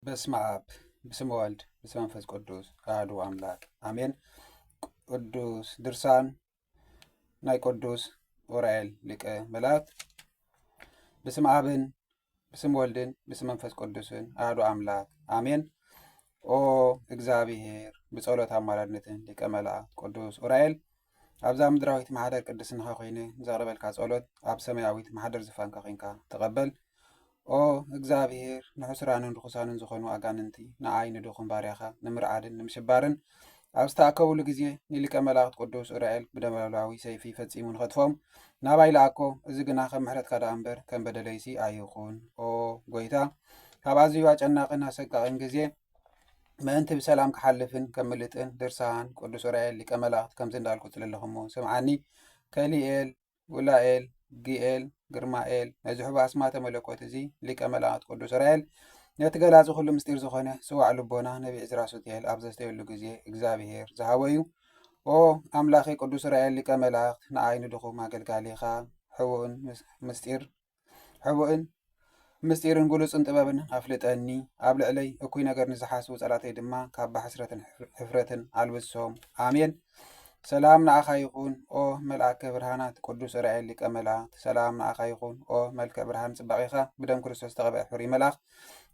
በስመ ኣብ ብስመ ወልድ ብስመ መንፈስ ቅዱስ ኣሐዱ ኣምላክ ኣሜን። ቅዱስ ድርሳን ናይ ቅዱስ ኡራኤል ሊቀ መላእክት። ብስመ ኣብን ብስመ ወልድን ብስመ መንፈስ ቅዱስን ኣሐዱ ኣምላክ ኣሜን። ኦ እግዚኣብሔር ብጸሎት ኣማላድነትን ሊቀ መላእክት ቅዱስ ኡራኤል ኣብዛ ምድራዊት ማሕደር ቅድስናኻ ኮይነ ዘቕርበልካ ጸሎት ኣብ ሰማያዊት ማሕደር ዝፋንካ ኮንካ ተቐበል። ኦ እግዚኣብሔር ንሕሱራንን ርኹሳንን ዝኾኑ ኣጋንንቲ ንኣይ ንድኹም ባርያኻ ንምርዓድን ንምሽባርን ኣብ ዝተኣከቡሉ ግዜ ንሊቀ መላእኽት ቅዱስ ኡራኤል ብደመላዊ ሰይፊ ፈጺሙ ንኸጥፎም ናባይ ለኣኮ እዚ ግና ከም ምሕረትካ ደኣ እምበር ከም በደለይሲ ኣይኹን ኦ ጎይታ ካብ ኣዝዩ ኣጨናቕን ኣሰቃቕን ግዜ ምእንቲ ብሰላም ክሓልፍን ከምልጥን ድርሳን ቅዱስ ዑራኤል ሊቀ መላእክት ከምዚ እንዳልኩ ጽልለኹሞ ስምዓኒ ከሊኤል ውላኤል ጊኤል ግርማኤል ነዚ ሕቡ ኣስማተ መለኮት እዚ ሊቀ መላእክት ቅዱስ ዑራኤል ነቲ ገላፂ ኩሉ ምስጢር ዝኾነ ስዋዕ ልቦና ነቢ ዕዝራ ሱትኤል ኣብ ዘስተየሉ ግዜ እግዚኣብሄር ዝሃቦ እዩ ኦ ኣምላኺ ቅዱስ ዑራኤል ሊቀ መላእክት ንኣይ ንድኹም ኣገልጋሊኻ ሕቡእን ምስጢር ሕቡእን ምስጢርን ግሉጽን ጥበብን ኣፍልጠኒ፣ ኣብ ልዕለይ እኩይ ነገር ንዝሓስቡ ጸላተይ ድማ ካባ ሕስረትን ሕፍረትን ኣልብሶም። ኣሜን። ሰላም ንኣኻ ይኹን ኦ መልኣከ ብርሃናት ቅዱስ ራኤል ሊቀ መላእክት ሰላም ንኣኻ ይኹን ኦ መልክዕ ብርሃን ጽባቄኻ ብደም ክርስቶስ ተቐብአ ሕሩይ መልኣኽ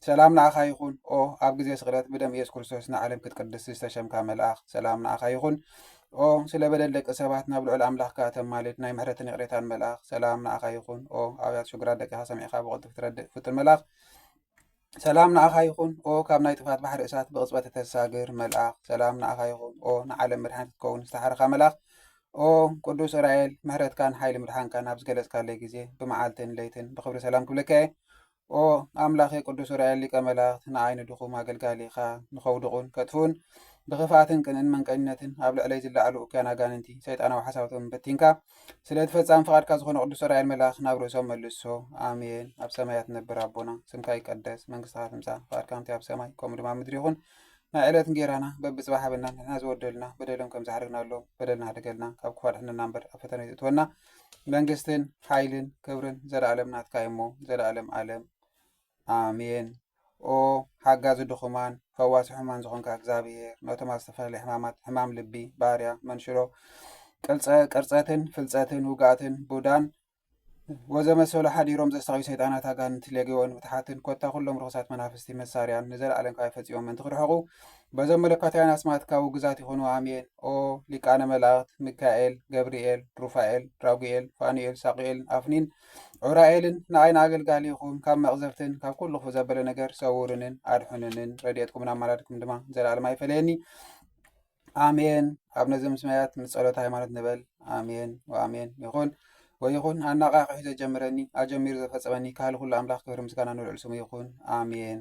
ሰላም ንኣኻ ይኹን ኦ ኣብ ግዜ ስቕለት ብደም ኢየሱስ ክርስቶስ ንዓለም ክትቅድስ ዝተሸምካ መልኣኽ ሰላም ንኣኻ ይኹን ኦ ስለ በደል ደቂ ሰባት ናብ ልዑል ኣምላኽካ እተማልድ ናይ ምሕረትን ይቕሬታን መልኣኽ ሰላም ንኣኻ ይኹን ኦ ኣብያት ሽግራት ደቂኻ ሰሚዕካ ብቕልጡፍ ትረድእ ፍጡን መልኣኽ ሰላም ንኣኻ ይኹን ኦ ካብ ናይ ጥፋት ባሕሪ እሳት ብቕፅበት እተሳግር መልኣኽ ሰላም ንኣኻ ይኹን ኦ ንዓለም መድሓኒት ክትከውን ዝተሓርኻ መልኣኽ ኦ ቅዱስ እስራኤል ምሕረትካን ሓይሊ ምድሓንካን ኣብ ዝገለጽካለይ ግዜ ብመዓልትን ለይትን ብክብሪ ሰላም ክብለካ እየ ኦ ኣምላኬ ቅዱስ ኡራኤል ሊቀ መላእክት ንዓይ ንድኹም ኣገልጋሊኻ ንኸውድቑን ከጥፍኡን ብኽፍኣትን ቅንእን መንቀኝነትን ኣብ ልዕለይ ዝለዓሉ እኩያን ኣጋንንቲ ሰይጣናዊ ሓሳባቶም በቲንካ ስለ እቲ ፈጻሚ ፍቓድካ ዝኾነ ቅዱስ ኡራኤል መልኣኽ ናብ ርእሶም መልሶ ኣሜን ኣብ ሰማያት ትነብር ኣቦና ስምካ ይቀደስ መንግስትኻ ትምጻእ ፍቓድካ ከምቲ ኣብ ሰማይ ከምኡ ድማ ኣብ ምድሪ ይኹን ናይ ዕለት እንጌራና በብጽባሕ ሃበና ንሕና ዝወደልና በደሎም ከም ዝሓደግናሎም በደልና ሓደገልና ካብ ክፉ ኣድሕነና እምበር ኣብ ፈተነ ይእትወና መንግስትን ሓይልን ክብርን ዘለኣለም ናትካ እዩሞ ዘለኣለም ኣለም ኣሜን። ኦ ሓጋዚ ድኹማን ፈዋሲ ሕሙማን ዝኾንካ እግዚኣብሄር ነቶም ኣብ ዝተፈላለየ ሕማማት ሕማም ልቢ፣ ባርያ፣ መንሽሮ፣ ቅልፀ ቅርፀትን ፍልፀትን ውግኣትን ቡዳን ወዘመሰሉ ሓዲሮም ዘሳቕዩ ሰይጣናት ኣጋንንቲ ሌጌዎን ምትሓትን ኮታ ኩሎም ርኹሳት መናፍስቲ መሳርያን ንዘለኣለም ካብ ፈፂሞም ምእንቲ ክርሕቑ በዞም መለኮታውያን ኣስማት ካቡ ግዛት ይኹኑ ኣሜን ኦ ሊቃነ መላእክት ሚካኤል ገብርኤል ሩፋኤል ራጉኤል ፋኑኤል ሳቁኤልን ኣፍኒን ዑራኤልን ንኣይ ንኣገልጋሊኹም ካብ መቅዘፍትን ካብ ኩሉ ክፉእ ዘበለ ነገር ሰውርንን ኣድሑንንን ረድኤትኩምን ኣማላድኩም ድማ ዘላለም ኣይፈለየኒ ኣሜን ኣብ ነዚ ምስማያት ምስ ጸሎት ሃይማኖት ንበል ኣሜን ወኣሜን ይኹን ወይኹን ኣነቓቒሑ ዘጀምረኒ ኣጀሚሩ ዘፈጸመኒ ካህሊ ኩሉ ኣምላኽ ክብሪ ምስጋና ንልዑል ስሙ ይኹን ኣሜን።